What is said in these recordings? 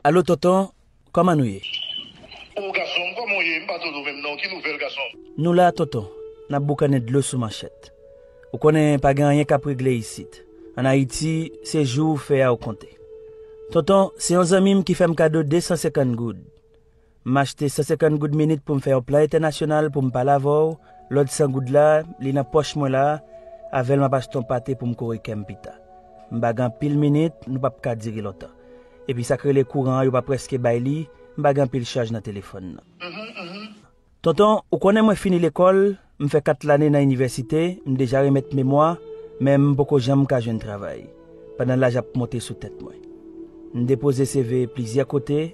Alo tonton kòman nou ye. Oh gasonm kòman w ye m pa tande w menm non ki nouvèl gasonm. Nou la tonton nap boukannen dlo sou manchèt ou konnen pa gen anyen kap regle isit an ayiti se jou ou fè a ou konte tonton se yon zanmi m ki fè m kado 250 goud M achte 150 goud minit pou m fè yon plan entènasyonal pou m pale avè w, lòt 100 goud la, li nan pòch mwen la, avè l m ap achte yon pate pou m kore kè m pita. M pa gen anpil minit, nou p ap ka dire lontan. Epi sa k rele kouran an yo pa prèske bay li, m pa gen anpil chaj nan telefòn nan. Tonton, ou konnen mwen fini lekòl, M fè kat lane nan inivèsite, m deja remèt memwa, men m poko janm ka jwenn travay, pandan laj ap monte sou tèt mwen. M depoze CV plizyè kote,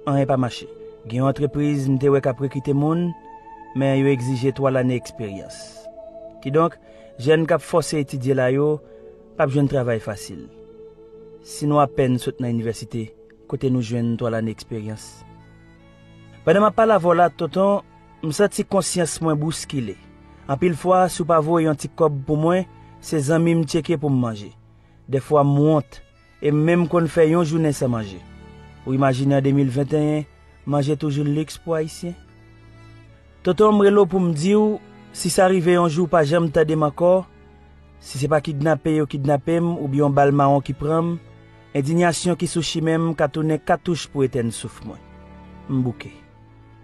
anyen pa mache. Gen yon antrepriz m te wè k ap rekite moun, men yo egzije 3 lane eksperyans. Kidonk, jèn k ap fòse etidye la yo, p ap jwenn travay fasil. Si nou apèn sot nan inivèsite, kote nou jwenn 3 lane eksperyans? Pandan m ap pale avè w la, Tonton, M santi konsyans mwen bouskile. Anpil fwa, si w pa voye yon ti kòb pou mwen, se zanmi m tcheke pou m manje. Dèfwa m wont, e m menm konn fè yon jounen san manje. Ou imajine an 2021, manje toujou liks pou Ayisyen? Tonton, m rele w pou m di w, si sa rive yon jou w pa janm tande m ankò, si se pa kidnape yo kidnape m oubyen yon bal mawon ki pran m, endinyasyon ki sou chimen m ka tounen katouch pou etèn souf mwen. M bouke.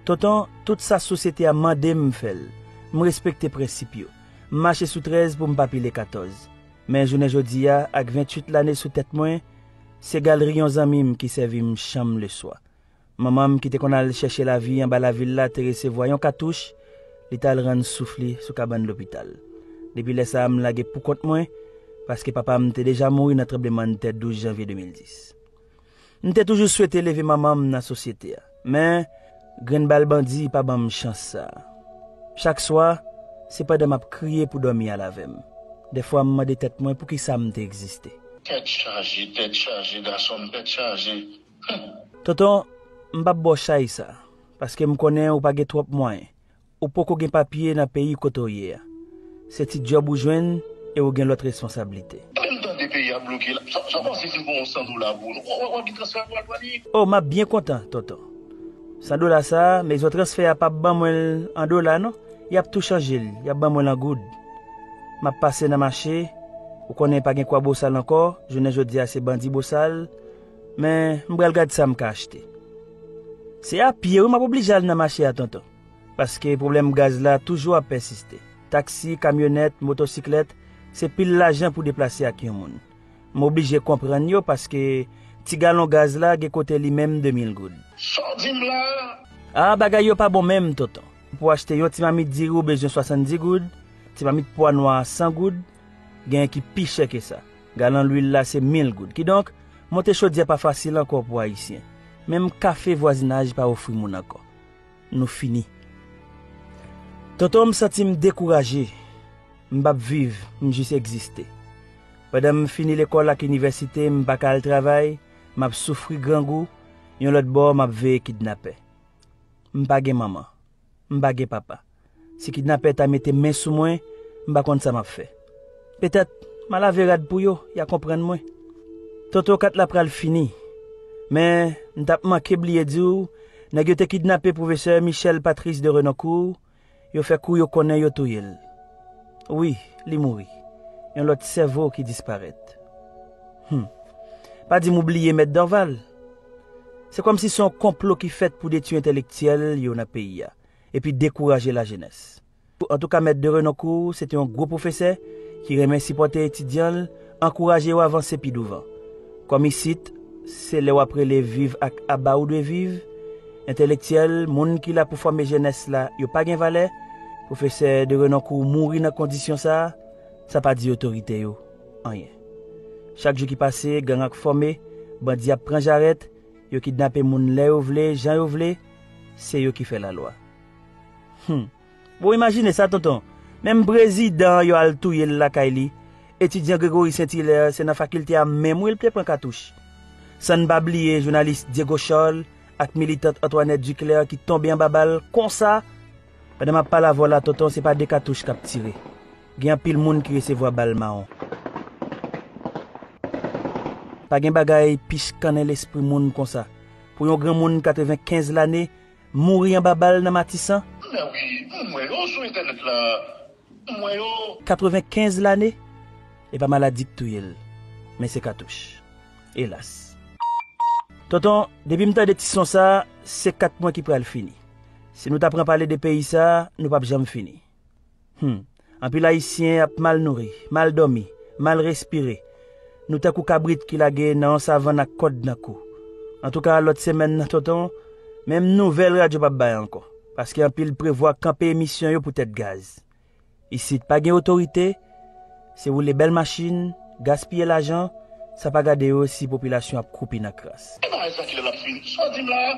Tonton, tout sa sosyete a mande m m fè l. M respekte prensip yo. M mache sou 13 pou m pa pile 14. Men jounen jodi a, ak 28 lane sou tèt mwen, se galri yon zanmi m ki sèvi m chanm leswa. Manman m ki te konn al chèche lavi anba lavil la te resevwa yon katouch, li t al rann souf li sou kabann lopital. Depi lè sa a m lage poukont mwen, paske papa m te deja mouri nan tranblemann tè 12 janvye 2010. M te toujou swete leve manman m nan sosyete a. Men, grenn bal bandi pa ban m chans sa a. Chak swa, se pandan m ap kriye pou dòmi al avè m. Dèfwa m mande tèt mwen poukisa m te egziste. Tèt chaje, tèt chaje, gason m, tèt chaje, humm. Tonton, m p ap ba w chay sa a, paske m konnen ou pa gen twòp mwayen. Ou poko gen papye nan peyi kote w ye a. Se ti djòb ou jwenn e ou gen lòt responsablite. Lè m tande peyi a bloke la, sa w panse si m pran yon 100 dola pou ou? Ou wè ki transfè pral ban li? O, m ap byen kontan, tonton. 100 dola sa a, mezon transfè a pap ban mwen l an dola non, y ap tou chanje l, y ap ban mwen l an goud. M ap pase nan mache, ou konnen pa gen kwa bosal ankò, jounen jodi a se bandi bosal, men m pral gad sa m ka achte. Se a pye wi m ap oblije al nan mache a tonton. paske pwoblèm gaz la toujou ap pèsiste. Taksi, kamyonèt, motosiklèt, se pil lajan pou deplase ak yon moun. M oblije konprann yo paske ti galon gaz la gen kote li menm 2 mil goud. Sa w di m la a? A, bagay yo pa bon menm, tonton. Pou achte yon ti mamit diri w bezwen 70 goud, ti mamit pwa nwa a 100 goud, genyen ki pi chè ke sa. Galon lwil la se mil goud. Kidonk, monte chodyè pa fasil ankò pou Ayisyen. Menm kafe vwazinaj pa ofri moun ankò. Nou fini. Tonton m santi m dekouraje, m p ap viv, m jis egziste. Pandan m fini lekòl ak inivèsite m pa ka al travay, m ap soufri grangou, yon lòt bò m ap veye kidnapè. M pa gen manman. M pa gen papa. Si kidnapè ta mete men sou mwen, m pa konn sa m ap fè. Petèt, m a lave rad pou yo, y a konprann mwen. Toto 4 la pral fini. Men, m t ap manke bliye di w, nèg yo te kidnape pwofesè Michel Patrice de Renoncourt, yo fè kou yo konnen yo touye l. Wi, li mouri. Yon lòt sèvo ki disparèt. Hum. Pa di m ou bliye Mèt Dorval. Se kòmsi se yon konplo ki fèt pou detui entelektyèl yo nan peyi a. epi dekouraje lajenès. Antouka Mèt de Renoncourt se te yon gwo pwofesè ki renmen sipòte etidyan l, ankouraje yo avanse pi douvan. Kòm isit, se lè w ap rele viv ak aba ou dwe viv, entelektyèl, moun ki la pou fòme jenès la, yo pa gen valè, pwofesè de Renoncourt mouri nan kondisyon sa, sa pa di otorite yo anyen. Chak jou ki pase, gang ak fòme, bandi ap pran jarèt, yo kidnape moun lè yo vle, jan yo vle, Se yo ki fè la lwa. Humm bon imajine sa tonton menm prezidan an yo al touyel lakay li etidyan Gregory Saint Hilaire se nan fakilte a menm wi li te pran katouch san n pa bliye jounalis Diego Charles ak militant Antoinette Duclaire ki tonbe anba bal konsa pandan map pale avèw la tonton se pa de katouch kap tire gen anpil moun ki resevwa bal mawon. Pa gen bagay pi chkannen lespri moun konsa. Pou yon granmoun 95 lane mouri anba bal nan Matisan? Mè wi, m wè yo sou entènèt la, m wè yo. 95 lane? E pa maladi k touye l, men se katouch. Elas. Tonton, depi m tande ti son sa, se 4 mwen ki pral fini. Si nou ta pran pale de peyi sa, nou pap janm fini. Humm anpil ayisyen ap mal nouri, mal dòmi, mal respire, nou tankou kabrit ki lage nan yon savann ak kòd nan kou. Antouka lòt semèn nan tonton menm nouvèl radyo pap bay ankò paske anpil prevwa kanpe emisyon yo pou tèt gaz. Isit pa gen otorite, se woule bèl machin, gaspiye lajan, sa pa gade yo si popilasyon ap kwoupi nan kras. Ebyen ayisyen kilè lap fini? Sa w di m la a?